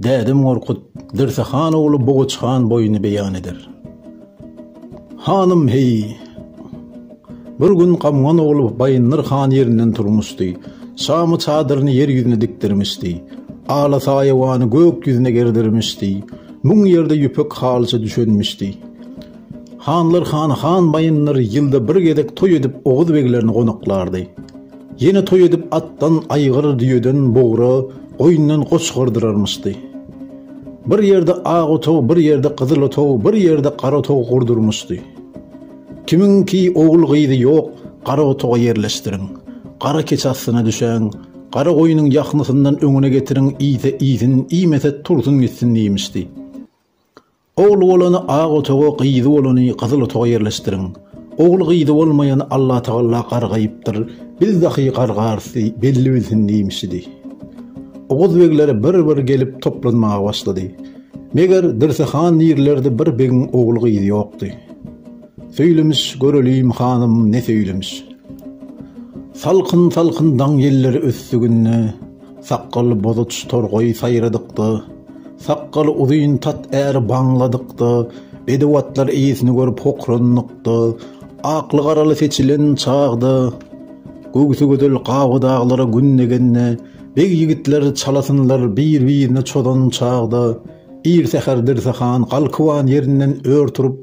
Dädem Gorkut Dirse han ogly Boguç han boýuny beýan eder. Hanym, heý! Bir gün Gamgan ogly Baýyndyr han ýerinden turmuşdy. Şamy çadyryny ýer ýüzüne dikdirmişdi. Ala saýawany gök ýüzüne gerdirmişdi. Müň ýerde ýüpek halyça düşenmişdi. Hanlar hany han baýyndyr ýylda bir gezek toý edip oguz beglerini gonaklardy. Ýene toý edip atdan aýgyr, düýeden bugra, goýundan goç gyrdyrarmyşdy. Bir ýerde ak otag, bir ýerde gyzyl otag, bir ýerde gara otag gurdurmyşdy. Kimiň ki ogul gyzy ýok, gara otaga ýerleşdiriň. Gara keçi astyna düşäň. Gara goýnuň ýahmysyndan öňüne getiriň, iýse iýsin, iýmese tursun gitsin diýmişdi. Ogly bolany ak otaga, gyzy bolany gyzyl otaga ýerleşdiriň. Ogly gyzy bolmaýan Allatagalla gargaýypdyr, biz dahy gargarys diý, belli bilsin diýmişidi. Oguz begler bir-bir gelip toplanmaga başlady. Meger, Dirse han nirlerde bir begiň ogly gyzy ýokdy. Söýlemiş, göreliým, hanym, ne söýlemiş. Salkyn-salkyn daň ýelleri ösdi günde. Sakgaly bozaç torgaýy saýradykda, sakgaly uzyn tat äri baňladykda, bedew atlar eýesini görüp hokranlykda, akly-garaly seçilen çagda, göwsi gözel gabadaglara gün degende, beg ýigitler çalasynlar bir-birine çozan çagda, ir säher Dirsehan galkywan ýerinden ör turup,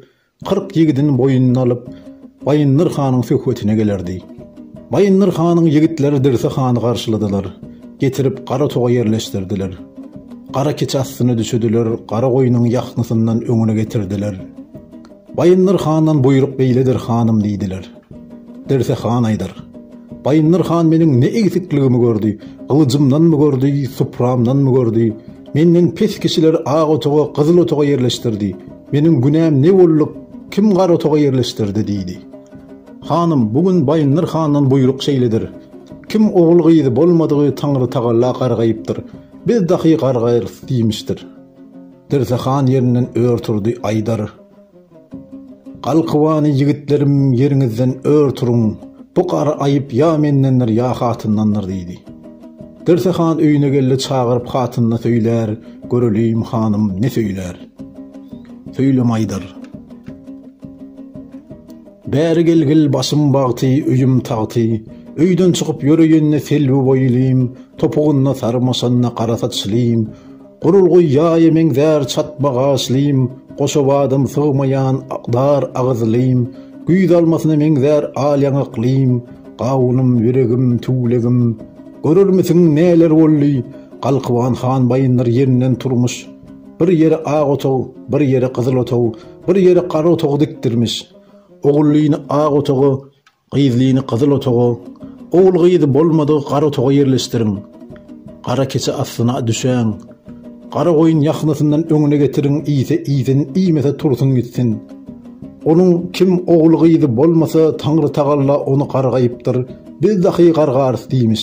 Kyrk ýigidini boýnuna alyp, Baýyndyr hanyň söhbetine gelerdi. Baýyndyr hanyň ýigitleri Dirse hany garşyladylar. Getirip gara toga ýerleşdirdiler. Gara kiç astyna düşüdiler, gara goýnuň ýahňysyndan öňüne getirdiler. Baýyndyr handan buýruk beýledir, hanym, diýdiler. Dirse han aýdar. Baýyndyr han meniň ne egsikligimi gördi, gylyjymdanmy gördi, supramdanmy gördi, menden pes kişileri ak otaga, gyzyl otaga ýerleşdirdi, meniň günäm ne boldy, kim gara otaga ýerleşdirdi? diýdi. Hanym, bu gün Baýyndyr handan buýruk şeýledir. Kim ogul-gyzy bolmadygy Taňrytagala gargaýypdyr, biz dahy gargaýarys diýmişdir. Dirse han ýerinden ör turdy, aýdar. Galkybany ýigitlerim ýeriňizden ör turuň, bu gara aýyp ýa mendendir ýa hatyndandyr diýdi. Dirse han öýüne geldi çagyryp hatynyna söýlär göreliýim hanym ne söýlär. Söýlemäýdir. Bäri gelgil başym bagty öýüm tagty, öýden çykyp ýöreýende selbi boýlym, topugynda sarmaşanda gara saçlym, Gurulgy ýaýa meňzär çatma gaşlym, Goşa badam sygmaýan dar agyzlym, Güýz almasyna meňzär al ýaňaklym, Gawunym, ýüregim, tüwlegim. Görermisiň, näler boldy? Galkyban han Baýyndyr ýerinden turmuş. Bir ýere ak otag, bir ýere gyzyl otag, Bir ýere gara otag dikdirmiş. Ogullyny ak otaga, Gyzlyny gyzyl otaga, ogul-gyzy bolmadygy gara otaga ýerleşdiriň. Gara keçe aslyna düşäň. Gara goýun ýahnasyndan öňüne getiriň, iýse iýsin, iýmese tursun gitsin. Onuň kim ogul-gyzy bolmasa, Taňrytagalla ony gargaýypdyr, biz dahy gargarys diýmiş.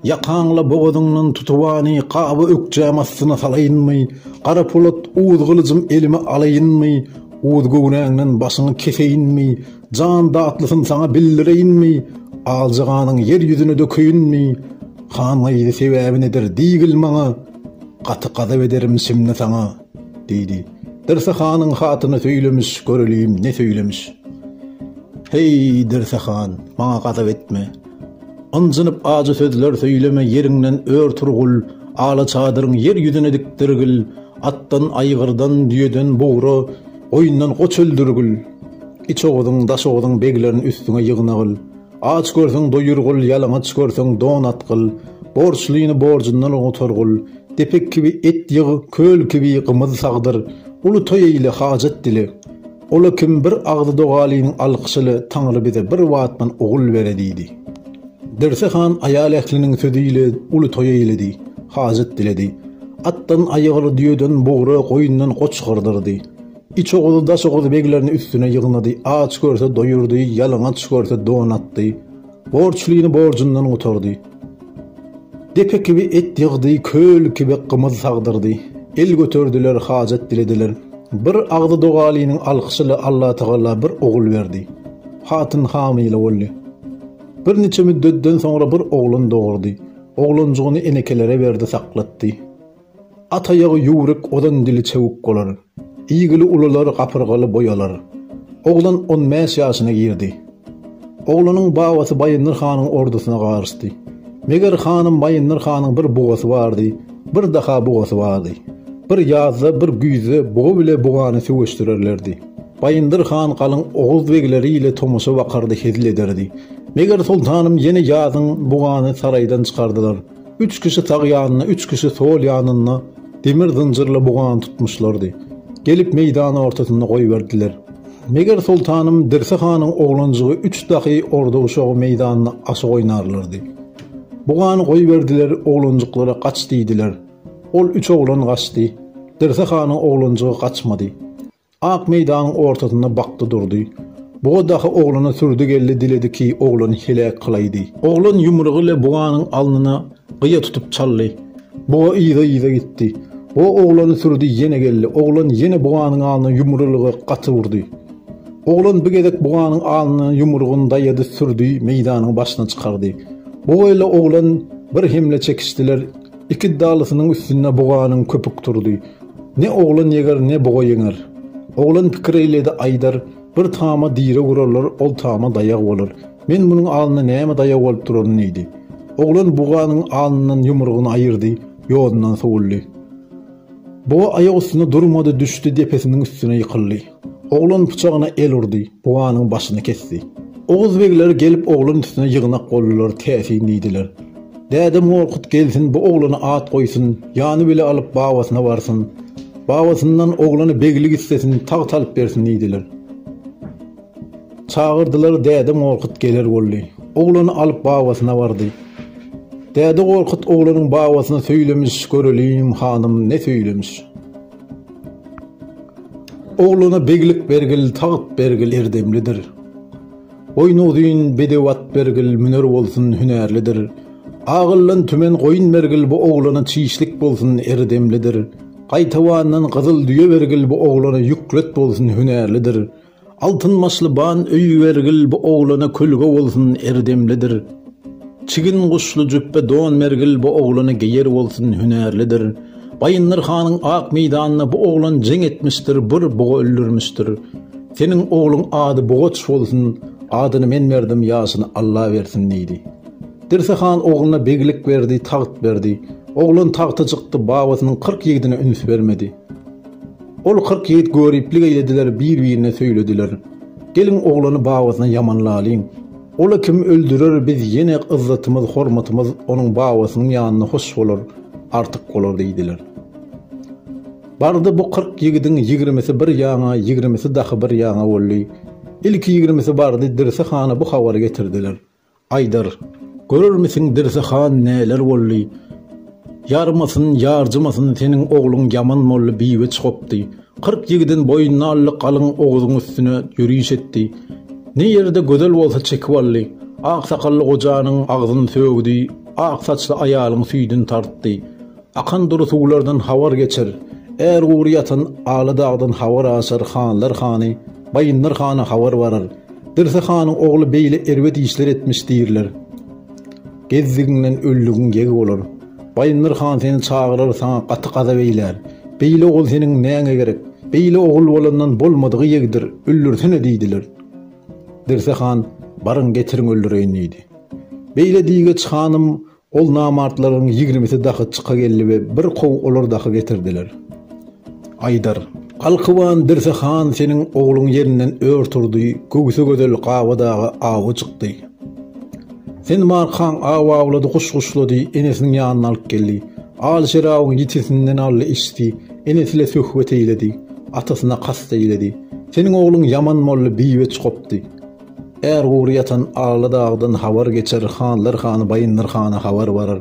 Ýakaňla bogazyňdan tutubany gaby ökjäm astyna salaýynmy, Garapolat uz gylyjym elime alaýynmy, uz göwnäňden başyňy keseýinmi, jan datlysyn saňa bildireýinmi, alja ganyň ýer ýüzüne dökeýinmi, han gyzy sebäbi nedir diýgil maňa, gaty gazap ederim şimdi saňa, diýdi. Dirse hanyň hatyny söýlemiş, göreliýim ne söýlemiş. Heý, Dirse han, maňa gazap etme. Ynjynyp ajy sözler söýleme ýeriňden ör turgul ala çadyryň ýer ýüzüne dikdirgil atdan aýgyrdan düýeden bugra goýundan goç öldürgil içoguzyň daşoguzyň beglerin üstüňe ýygnagyl aç görseň doýurgul ýalaňaç görseň don atgyl borçlyny borjundan gutargul depek kibi et ýyg köl kibi gymyz sagdyr uly toý eýle hajat dile Ol-a kim bir agzy dogalynyň alkyşyly Taňry bize bir wagtdan ogul bere diýdi. Derse han aýal ähliniň sözi ile uly toý eýledi, hajat diledi. Atdan aýgyr, düýeden bugra, goýundan goç gyrdyrdy. Iç Oguzy, Daş Oguzy beglerini üstüne ýygnady, aç görse doýurdy, ýalaňaç görse don atdy. Borçlyny borjundan gutardy. Depe kibi et ýygdy, köl kibi gymyz sagdyrdy. El göterdiler, hajat dilediler. Bir agzy dogalynyň alkyşy ile Allatagala bir ogul berdi. Hatyn hamyla boldy. Bir niçe müddetden soňra bir oglan dogurdy. Oglanjygyny enekelere berdi, saklatdy. At aýagy ýüwrük ozan dili çewük bolar. Iýgili ulular gapyrgaly boý alar. Oglan on bäş ýaşyna girdi. Oglanyň babasy Baýyndyr hanyň ordusyna garyşdy. Meger hanym Baýyndyr hanyň bir bugasy bardy, bir daha bugasy bardy. Bir ýazda, bir güýzde buga bile bugany söweşdirerlerdi. Baýyndyr han galyň oguz begleri ile tomaşa bakardy hezil ederdi. Meger soltanym ýene ýazyň bugany saraýdan çykardylar. Üç kişi sag ýanynda, üç kişi sol ýanynda demir zynjyrly bugany tutmuşlardy. Gelip meýdany ortasynda goýberdiler. Meger soltanym Dirse hanyň oglanjygy üç dahy orda uşagy meýdanda aşyk oýnarlardy. Bugany goýberdiler, oglanjyklara gaç diýdiler. Ol üç oglan gaçdy. Dirse hanyň oglanjygy gaçmady. Ak meýdanyň ortasynda bakdy durdy. Buga dahy oglana sürdi geldi diledi ki, oglany heläk kylaýdy. Oglan ýumrugy ile buganyň alnyna gyýa tutup çaldy. Buga yza-yza gitdi. O oglany sürdi ýene geldi. Oglan ýene buganyň alnyna ýumrulygy gaty urdy. Oglan bi gezek buganyň alnyna ýumrugyny daýady sürdi meýdanyň başyna çykardy. Buga ile oglan bir hemle çekişdiler. Iki dalysynyň üstünde buganyň köpük turdy. Ne oglan ýeger, ne buga ýeňer. Oglan pikir eýledi, aýdar, Bir tama direk urarlar, ol tama daýag bolar. Men munuň alnyna näme daýag bolup duraryn diýdi. Oglan buganyň alnyndan ýumrugyny aýyrdy, ýodundan sowuldy. Buga aýak üstünde durmady, düşdi, depesiniň üstüne ýykyldy. Oglan pyçagyna el urdy, buganyň başyny kesdi. Oguz begleri gelip oglan üstüne ýygnak boldular, täsin diýdiler. Däde Morkut gelsin, bu oglana at goýsun, ýany bile alyp babasyna barsyn. Babasyndan oglany beglik islesin, tagt alyp bersin diýdiler. Çagyrdylar Däde Gorkut geler boldy. Oglany alyp babasyna bardy. Däde Gorkut oglanyň babasyna söýlemiş, göreliň, hanym, ne söýlemiş. Oglana beglik bergil, tagt bergil, erdemlidir. Goýna uzyn, bedew at bergil, müner bolsun, hünärlidir. Agyldan tümen goýun bergil, bu oglana çişlik bolsun, erdemlidir. Gaýtawandan gyzyl düýe bergil, bu oglana ýüklet bolsun, hünärlidir. Altyn başly ban öýi bergil bu oglana kölge bolsun erdemlidir. Çigin guşly jüpbe don bergil bu oglana geýer bolsun hünärlidir. Baýyndyr hanyň ak meýdanda bu oglan jeň etmişdir bir buga öldürmişdir. Seniň ogluň ady bugaç bolsun, adyny men berdim ýaşyny Alla bersin diýdi. Dirse han ogluna beglik berdi, tagt berdi. Oglan tagta çykdy babasynyň kyrk ýigdine üns bermedi. Ol kyrk ýigit göriplik eýlediler, bir-birine söýlediler, Geliň, oglany babasyna ýamanlalyň. Ol-a kim öldürer, biz ýene yzzatymyz, hormatymyz onuň babasynyň ýanynda hoş bolar, artyk bolar diýdiler. Bardy bu kyrk ýigidiň ýigrimisi bir ýaňa, ýigrimisi dahy bir ýaňa boldy. Ilki ýigrimisi bardy, Dirse hana bu habary getirdiler. Aýdar, görermisiň Dirse han näler boldy. Ýarmasyn, ýarjymasyn seniň ogluň Ýaman molly biýwe çykypdy. Kyrk ýigidin boýnuna aldy galyň Oguzyň üstüne ýöriş etdi. Ne ýerde gözel bolsa çekip aldy. Aksakally gojanyň agzyn sögdi, ak saçly aýalyň süýdin tartdy. Akan dury suwlardan habar geçer, Är gury ýatan Aly dagdan habar aşar Hanlar hany Baýyndyr hana habar barar. Dirse hanyň ogly beýle erbet işler etmiş diýirler. Gezdigiňden öldügiň ýeg bolar. Baýyndyr han seni çagyrar saňa gaty gazap eýlär. Beýle ogul seniň näňe gerek? Beýle ogul bolandan bolmadygy ýegdir, öldürsene diýdiler. Dirse han Baryň getiriň öldüreýin diýdi. Beýle diýgeç hanym Ol namartlaryň ýigrimisi dahy çyka geldi we bir kow olar dahy getirdiler. Aýdar. Galkyban Dirse han seniň ogluň ýerinden ör turdy, göwsi gözel Gaba daga awa çykdy. Sen markaň aw awlady, guş guşlady, enesiniň ýanyna alyp geldi. Al şerabyň ýitisinden aldy, içdi, enesi ile söhbet eýledi, atasyna kast eýledi. Seniň ogluň ýaman boldy, biweç gopdy. Är gury ýatan Aly dagdan habar geçer, Hanlar hany Baýyndyr hana habar barar.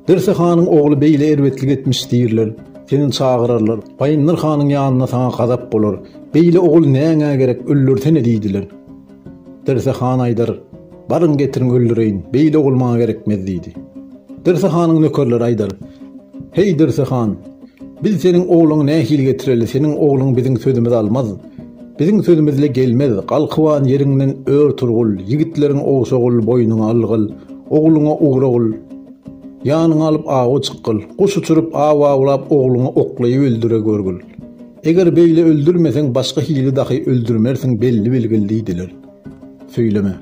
Dirse hanyň ogly beýle erbetlik etmiş diýrler. Seni çagyrarlar. Baýyndyr hanyň ýanynda saňa gazap bolar. Beýle ogul näňä gerek, öldürsene diýdiler. Dirse han aýdar, Baryň getiriň öldüreýin, beýle ogul maňa gerekmez diýdi. Dirse hanyň nökerleri aýdar, Heý Dirse han, biz seniň ogluňy nähili getireli, seniň ogluň biziň sözümizi almaz. Biziň sözümizle gelmez, galkyban ýeriňden ör turgul, ýigitleriňi ogşagul, boýnuňa algyl, ogluňa ugragul, ýanyňa alyp awa çykgyl, guş uçuryp, aw awlap, ogluňy oklaýyp öldüregörgül. Eger beýle öldürmeseň, başga hili dahy öldürmersiň, belli bilgil diýdiler. Söýleme.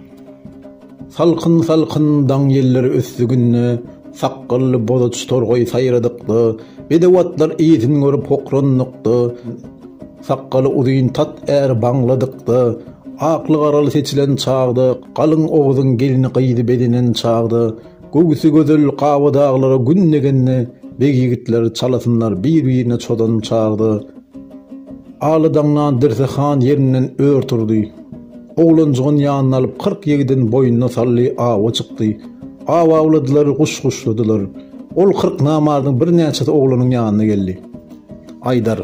Salkyn-salkyn daň ýelleri ösdi günde, sakgally bozaç torgaý saýradykda, bedew atlar yzyn görüp hokrandyk-da, sakgaly uzyn tat är baňladykda, akly-garaly seçilen çagda, galyň oguzyň gelni-gyzy bezenen çagda, göwsi gözel Gabadaglara gün degende, beg ýigitler çalasynlar bir-birine çodan çagda. Aly daňdan Dirse han ýerinden ör turdy. Oglanjygyny ýanyna alyp, kyrk ýigidini boýnuna saldy, awa çykdy. Aw awladylar, guş guşladylar. Ol kyrk namardyň birnäçesi oglanyň ýanyna geldi. Aýdar,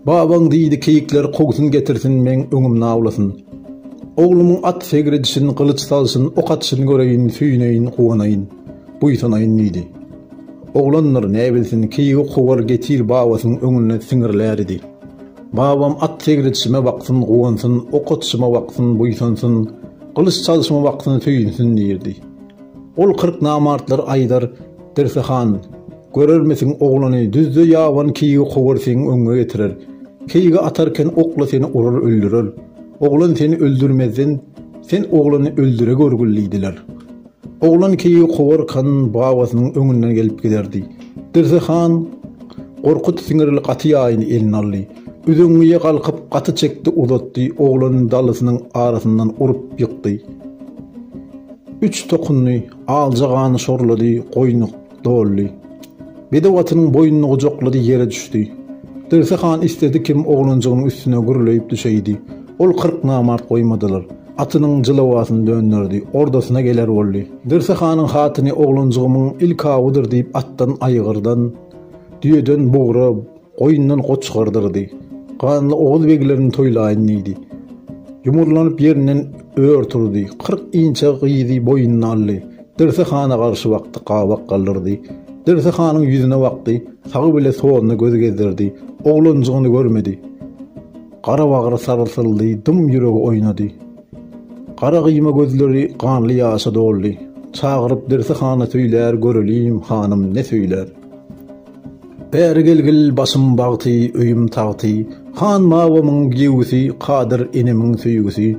Babaň diýdi, keýikleri kowsun getirsin, meň öňümde awlasyn. Oglumyň at segredişin, gylyç salşyn, ok atyşyny göreýin, söýüneýin, guwanaýyn, buýsanaýyn diýdi. Oglandyr, näbilsin, keýigi kowar, getir babasynyň öňünde siňirläridi. Babam at segredişime baksyn, guwansyn, ok atyşyma baksyn, buýsansyn, gylyç çalyşyma baksyn, söýünsün diýerdi. Ol kyrk namartlar aýdar, Dirse han, görermisiň oglany, düzde ýaban keýigi kowar seň öňňe getirer. Keýigi atarken okla seni urar öldürer. Oglan seni öldürmezden, sen oglany öldüre görgül diýdiler. Oglan keýigi Kowarkanyň babasynyň öňünden gelip giderdi. Dirse han Gorkut siňirli gaty ýaýyny eline aldy. Üzeňňije galkyp gaty çekdi uzatdy, oglanyny dalysynyň arasyndan urup ýykdy. Üç tokundy, alja gany şorlady, goýny doldy. Bedew atynyň boýnuny gujaklady, ýere düşdi. Dirse han isledi kim oglanjygynyň üstüne gürleýip düşeýdi. Ol kyrk namart goýmadylar. Atynyň jylawasyny dönderdi. Ordasyna geler boldy. Dirse hanyň hatyny oglanjygymyň ilk awudyr diýip atdan aýgyrdan, düýeden bugra, Goýundan goç çykardyrdy. Ganly oguz beglerini toýlaýyn diýdi. Ýumurlanyp ýerinden ör turdy. Kyrk inçe gyzy boýnuna aldy. Dirsi hana garşy bakdy, gabak galdyrdy. Dirsi hanyň ýüzüne bakdy, sagy bile soluna göz gezdirdi. Oglanjygyny görmedi. Gara bagry sarsyldy, dym ýüregi oýnady. Gara gyýma gözleri ganly ýaşa doldy. Çagyryp Dirsi hana söýlär göreliň, hanym, ne söýlär? Bäri gelgil başym bagty, öýüm tagty, Han babamyň giýewisi, Kadyr enemiň söýgüsi.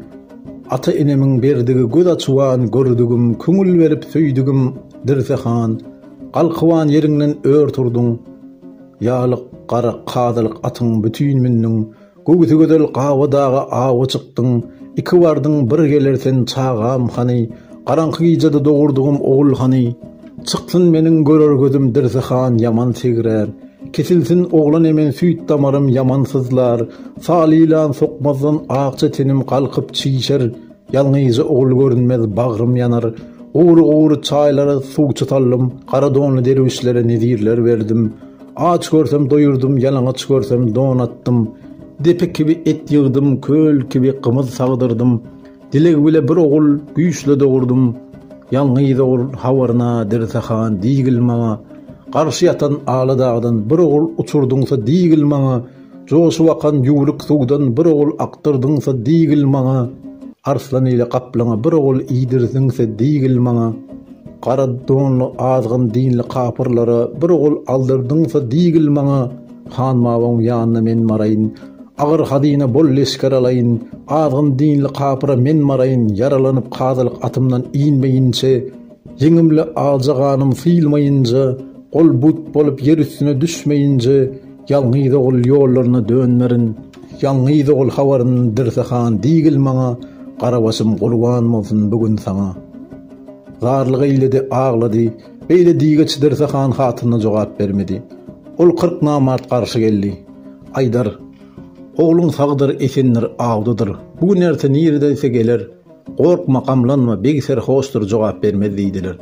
Ata enemiň berdigi göz açuwan gördügim, Köňül berip söýdügim, Dirse han, galkywan ýeriňden ör turduň. Ýalyk, garak, kazylyk atyň bütin mündüň, Göwsi gözel Gaba daga awa çykdyň, Iki bardyň, bir geler sen, çagam, hany? Garaňky gijede dogurdygym ogul hany? Çyksyn meniň görer gözüm Dirsi han ýaman segrär. Kesilsin oglan emen süýt damarym ýaman syzlar. Sal ýylan sokmazdan akja tenim galkyp çişer. Ýalňyja ogul görünmez bagrym ýanar, Gury-gury çaýlara suw çytaldym, Gara donly derwüşlere nezirler berdim, Aç görsem doýurdym, ýalaňaç görsem don atdym, Depe kibi et ýygdym, köl kibi gymyz sagdyrdym, Dileg bile bir ogul güýçle dogurdym. Ýalňyz ogul habaryna Dirse han, Diýgil maňa, Garşy ýatan Aladagdan Bir ogul uçurdyňsa, diýgil maňa, Joşup akan ýüwrük suwdan bir ogul akdyrdyňsa diýgil maňa, Arslan ile gaplaňa bir ogul iýdirdiňse diýgil maňa, Gara donly azgyn dinli kapyrlara bir ogul aldyrdyňsa diýgil maňa, Han Mabagyň ýanyna men baraýyn, agyr hazyna bol leşger alaýyn, Azgyn dinli kapyra men baraýyn, ýaralanyp kazylyk atymdan inmeýinçe, Ýeňimli aja ganym syýlmaýynca, ol but bolup ýer üstüne düşmeýince, ýalňyz ogul ýollaryna dönmerin. Ýalňyz ogul habaryn Dirse han diýgil maňa, Garabaşym gurban bolsun bu gün saňa. Zarlyk eýledi, aglady. Beýle diýgeç Dirse han hatynyna jogap bermedi. Ol kyrk namart garşy geldi. Aýdar, Ogluň sagdyr, esendir, awdadyr. Bu gün-erte niredeyse geler. Gorkma, gamlanma, beg serhoşdyr, jogap bermez diýdiler.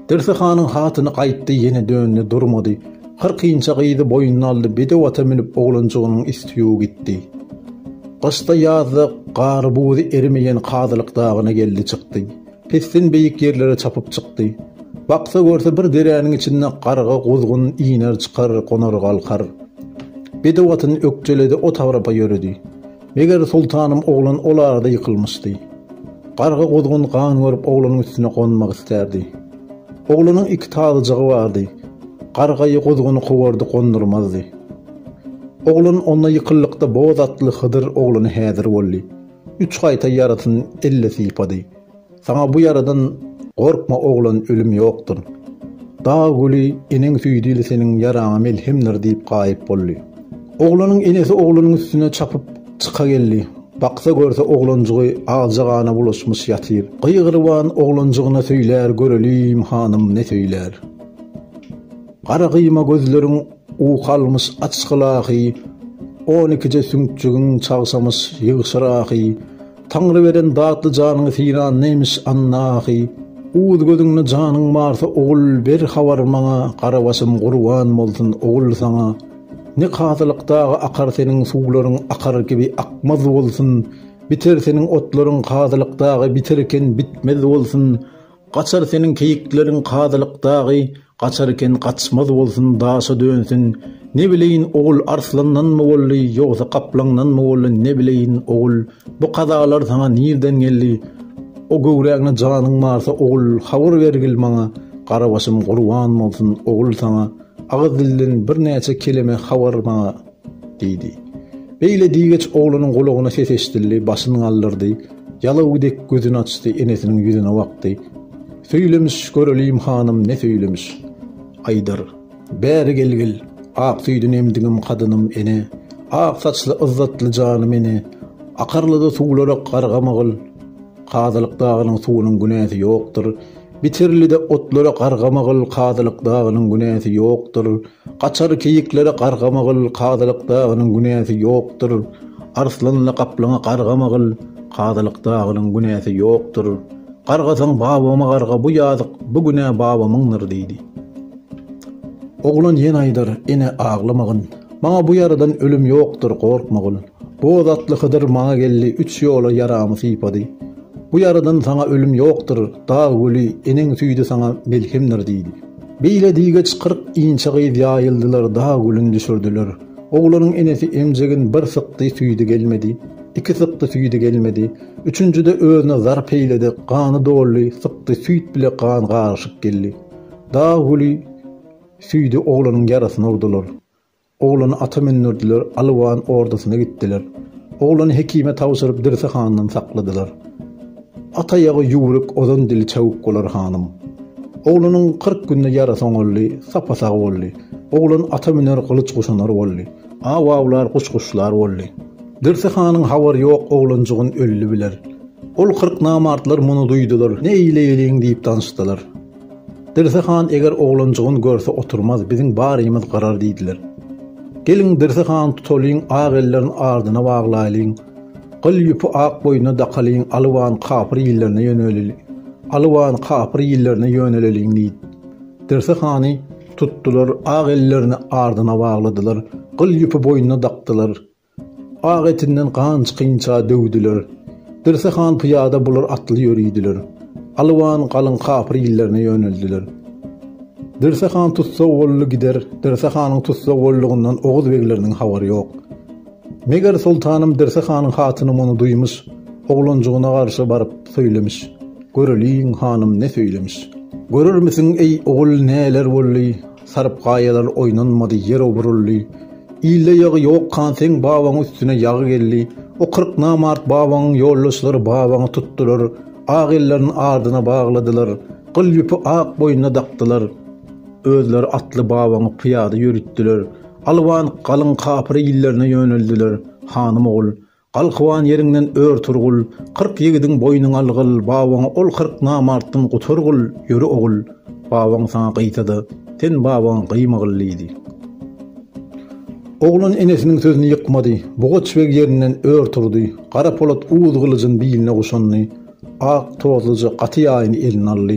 Dirsi hanyň hatyny gaýtdy, ýene döndi, durmady. Kyrkynja gyzy boýnuna aldy, bedew ata münüp oglanjygynyň üsti-u gitdi. Gyşda-ýazda gary-buzy erimeýän Kazylyk dagyna geldi çykdy. Pesden beýik ýerlere çapyp çykdy. Baksa görse bir deräniň içinde garga, guzgun iner-çykar, gonar-galkar. Bedew atyny ökjeledi, o tagrapa ýöredi. Meger soltanym oglan ol arada ýykylmyşdy. Garga guzgun gan görüp oglanyň üstüne gonmak isterdi. Oglanyň iki tazyjygy bardy. Gargaýy guzguny kowardy gondurmazdy. Oglan onda ýykyllykda boz atly Hydyr oglany häzir boldy. Üç gaýta ýarysyny elle sypady. Saňa bu ýaradan Gorkma oglan ölüm ýokdur. Dag güli eneň süýdili seniň ýaraňa melhemdir diýip gaýyp boldy. Oglanyň enesi oglanyň üstüne çapyp çyka geldi. Baksa görse oglanjygy agja gana bulaşmyş ýatyr. Gygyryban oglanjygyna söýlär göreliň hanym ne söýlär. Gara gyýma gözleriň uky almyş açgyl ahy, on ikije süňkjigiň çagşamyş ýygşyr ahy, Taňry beren datly janyňy filan neymiş annahy uz gözüňde janyň barsa ogul ber habar maňa gara başym gurban bolsun ogul saňa ne kazylyk dagy akar seniň suwlaryň akar kibi akmaz bolsun biter seniň otlaryň kazylyk dagy biter eken bitmez bolsun Gaçar seniň keýikleriň kazylyk dagy gaçar eken gaçmaz bolsun daşa dönsün ne bileýin ogul arslandanmy boldy ýogsa gaplaňdanmy boldy ne bileýin ogul bu kazalar saňa nirden geldi o göwrägine janyň barsa ogul habar bergil maňa garabaşym gurban bolsun ogul saňa agyz dilden birnäçe keleme habar maňa. Diýdi. Beýle diýgeç oglanyň gulagyna ses eşidildi, başyny galdyrdy. Ýalaw dek gözüni açdy, enesiniň ýüzüne bakdy. Söýlemiş, göreliýim hanym, ne söýlemiş? Aýdar. Bäri gelgil, ak süýdüni emdigim kadynym, ene! Ak saçly yzzatly janym, ene! Akarlyda suwlarak gargamygyl! Kazylyk dagynyň suwunyň günäsi ýokdur. Bitirlide otlara Gargamagyl Kazylyk dagynyň günäsi ýokdur, Gaçar keýiklere Gargamagyl Kazylyk dagynyň günäsi ýokdur, Arslanla gaplaňa Gargamagyl Kazylyk dagynyň günäsi ýokdur. Gargasaň babama garga bu ýazyk, bu günä babamyňdyr diýdi. Oglan ýene aýdar, Ene, aglamagyn. Maňa bu ýaradan ölüm ýokdur, gorkmagyn. Boz atly Hydyr maňa geldi, üç ýola ýaramy sypady. Bu ýaradan saňa ölüm ýokdur, dag güli, eneň süýdi saňa melhemdir diýdi. Beýle diýgeç kyrk inçe gyz ýaýyldylar, dag gülüni düşürdiler. Oglanyň enesi emjegin bir sykdy, süýdi gelmedi. Iki sykdy, süýdi gelmedi. Üçünjide özüne zar peýledi, gany doldy, sykdy, süýt bile gan garyşyk geldi. Dag güli, süýdi oglanyň ýarasyna urdular. Oglany ata mündürdiler, Alywan ordasyna gitdiler. Oglany hekime tabşyryp, Dirsi handan sakladylar. At aýagy ýüwrük, ozan dili çabuk bolar, hanym. Oglanyň kyrk günde ýarasy oňaldy, sapa-sag boldy. Oglan ata müner, gylyç guşanar boldy. Aw awlar, guş guşlar boldy. Dirsi hanyň habary ýok, oglanjygyn öldi biler. Ol kyrk namartlar muny duýdular, Ne eýleýeliň diýip danşdylar. Dirse han eger oglanjygyn görse oturmaz, biziň barymyz garar diýdiler. Geliň, Dirse hany tutalyň, ak ellerini ardyna baglaýlyň. Gyl ýüpi ak boýnuna dakalyň, Alybany kapyr illerine ýöneleli Alybany kapyr illerine ýöneleliň diýip, Dirse hany tutdular, ak ellerini ardyna bagladylar, gyl ýüpi boýnuna dakdylar. Ak etinden ganç-ginça döwdüler. Dirse han pyýada, bular atly ýörüdiler. Alwan galyň kapyr illerine ýöneldiler. Dirse han tussag boldy gider, Dirse hanyň tussag boldugyndan oguz begleriniň habary ýok. Meger soltanym Dirse hanyň hatyny muny duýmyş, oglanjygyna garşy baryp söýlemiş. Göreliň, hanym ne söýlemiş. Görermisiň, eý, ogul, näler boldy? Saryp gaýalar oýnanmady, ýer oburyldy. Ilde ýagy ýok kan seň babaň üstüne ýagy geldi. O kyrk namart babaňyň ýoldaşlary babaňy tutdular. Ak ellerin ardyna bagladylar. Gyl ýüpi ak boýnuna dakdylar. Özleri atly babaňy pyýada ýörütdiler. Alwanyk galyň kapyr illerine ýöneldiler. Hanym ogul. Galkywan ýeriňden ör Turgul, Kyrk ýigidiň boýnun algyl, Babaňa ol kyrk namartdan gutargyl, Ýöre ogul, babaň saňa gyýsa-da, Sen babaňa gyýmagyl diýdi. Oglan enesiniň sözüni ýykmady. Bugaç beg ýerinden ör turdy. Gara polat uz gylyjyny biline guşandy. Ak tozluja gaty ýaýyny eline aldy.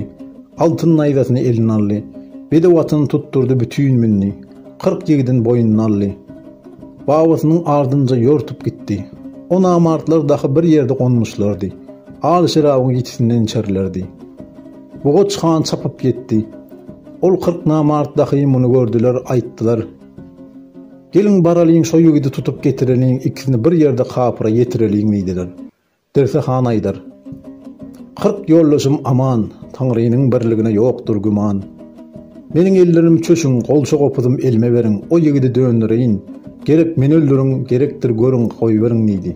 Altyn naýzasyny eline aldy. Bedew atyny tutdurdy, bütin mündi. Kyrk ýigidin boýnuny aldy. Babasynyň ardynja ýortup gitdi. O namartlar dahy bir ýerde gonmuşlardy. Al şerabyň ýitisinden içerlerdi. Bugaç han çapyp ýetdi. Ol kyrk namart dahy muny gördüler, aýtdylar, Geliň baralyň şo ýigidi tutup getireliň, ikisini bir ýerde kapyra ýetireliň diýdiler. Degse han aýdar, Kyrk ýoldaşym aman, Taňrynyň birligine ýokdur güman. Meniň ellerim çöşüň, golça gopuzym elime beriň, o ýigidi döndereýin, gerek meni öldüriň, gerekdir görüň, goýberiň diýdi.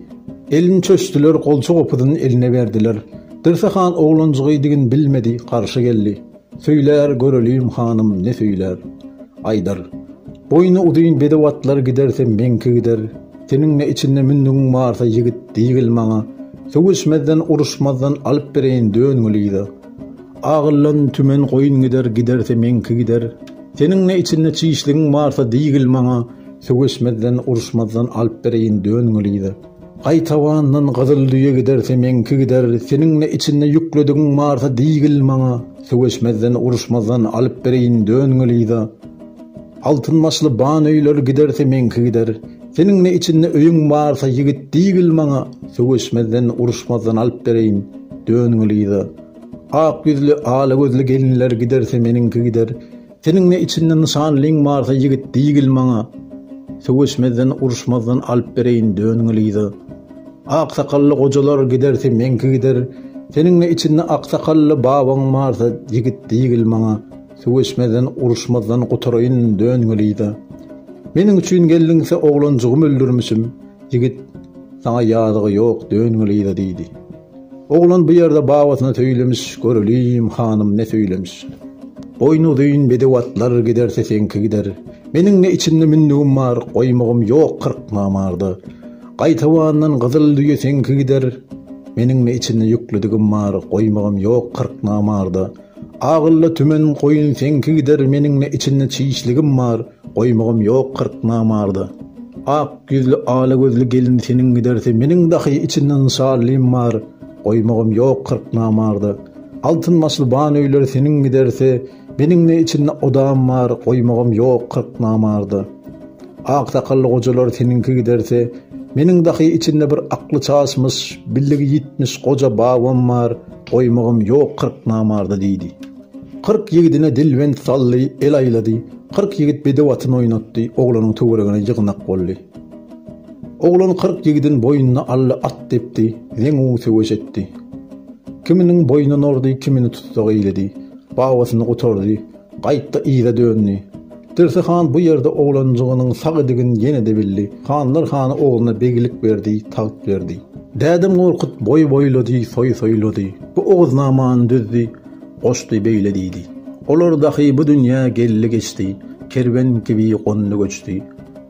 Elini çöşdüler, golça gopuzyn eline berdiler. Degse han oglanjygy digin bilmedi, garşy geldi. Söýler, göreliň, hanym, ne söýler? Aýdar, Boýny uzyn bedew atlar giderse meňki gider. Seniň-de içinde mündigiň barsa ýigit diýgil maňa. Sögüşmezden, uruşmazdan alyp bereýin dön Gülýza. Agyllan tümen goýun gider, giderse meňki gider. Seniň-de içinde çişligiň barsa diýgil maňa. Sögüşmezden, uruşmazdan alyp bereýin dön Gülýza. Gaýtawandan gyzyl düýe giderse meňki gider, seniň-de içinde ýükledigiň barsa diýgil maňa, söweşmezden, uruşmazdan alyp bereýin döngelida. Altyn başly ban öýler giderse meňki gider, seniň-de içinde öýüň barsa ýigit diýgil maňa, söweşmezden, uruşmazdan alyp bereýin döngelida. Ak ýüzli, ala gözli gelinler giderse meniňki gider, Seniň ne içinde nyşan lyň barsa ýigit diýgil maňa söweşmezden uruşmazdan alyp bereýin döňňi lyza ak sakally gojalar gidersi meňki gider seniň ne içinde ak sakally babaň barsa ýigit diýgil maňa söweşmezden uruşmazdan gutaraýyn döňňi lyza meniň üçin geldiňse oglanjygym öldürmişim ýigit saňa ýazygy ýok döňňi lyza diýdi Oglan bu ýerde babasyna söýlemiş, Göreliýim, hanym, ne söýlemiş. Goýun uzyn, bedew atlar, Giderse seňki gider. Meniň ne içinde mündügim bar, Goýmagym ýok kyrk namarda. Gaýtabandan gyzyl düýe seňki gider. Meniň ne içinde ýüklüdigim bar, Goýmagym ýok kyrk namarda. Agylla tümen goýun seňki gider, Meniň ne içinde çişligim bar, Goýmagam ýok kyrk namarda. Ak ýüzli ala gözli gelin seniň gidersi meniň dahy içinden şallym bar, goýmagam ýok kyrk namarda. Altyn başly ban öýler seniň gidersi meniňne içinde odam bar, goýmagam ýok kyrk namarda. Ak sakally gojalar seniňki gidersi meniň dahy içinde bir akly çaşmyş, billigi ýitmiş goja babam bar, goýmagam ýok kyrk namarda diýdi. Kyrk ýigidine dilbent saldy, el aýlady, Kyrk ýigit bedew atyn oýnatdy, Oglanyň töweregine ýygnak boldy. Oglan kyrk ýigidin boýnuna aldy, At depdi, zeňňu söweş etdi. Kiminiň boýny nordy, kimini tussag eýledi, Babasyny gutardy, gaýtdy yza döndi. Dirsi han bu ýerde oglanjygynyň sag idigin ýene-de bildi, Hanlar hany ogluna beglik berdi, tagt berdi. Dädem Gorkut boý boýlady, soý soýlady, Bu Oguznamany düzdi, Goşdy beýle diýdi. Olar dahy bu dünýä geldi-geçdi, Kerwen kibi gondy-göçdi.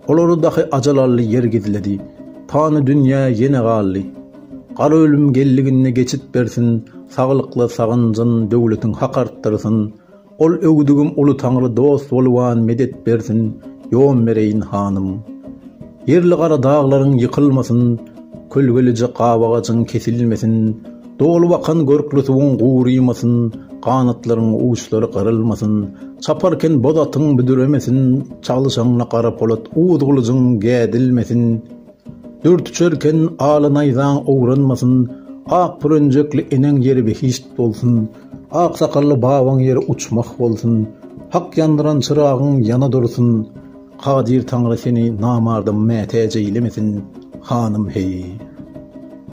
Olary dahy ajal aldy, ýer gizledi, Pany dünýä ýene galdy. Gara ölüm geldiginde geçit bersin, Saglykly sagynjyn, döwletiň hak artdyrsyn. Ol öwdügim uly taňry dost bolubam medet bersin, Ýon bereýin hanym. Ýerli gara daglaryň ýykylmasyn, Kölgelije gabagajyň kesilmesin, Dolup akan görkli suwuň gurymasyn, Ganatlaryň uçlary gyrylmasyn, Çaparken boz atyň büdremesin, Çalyşaňda gara polat uz gylyjyň gädilmesin, Dört uçarken aly naýzaň owranmasyn, Ak bürenjekli eneň ýeri behişt bolsun, Ak sakally babaň ýeri uçmah bolsun, Hak ýandyran çyragyň ýana dursun. Kadyr Taňry seni namarda mätäç eýlemesin, hanym, heý!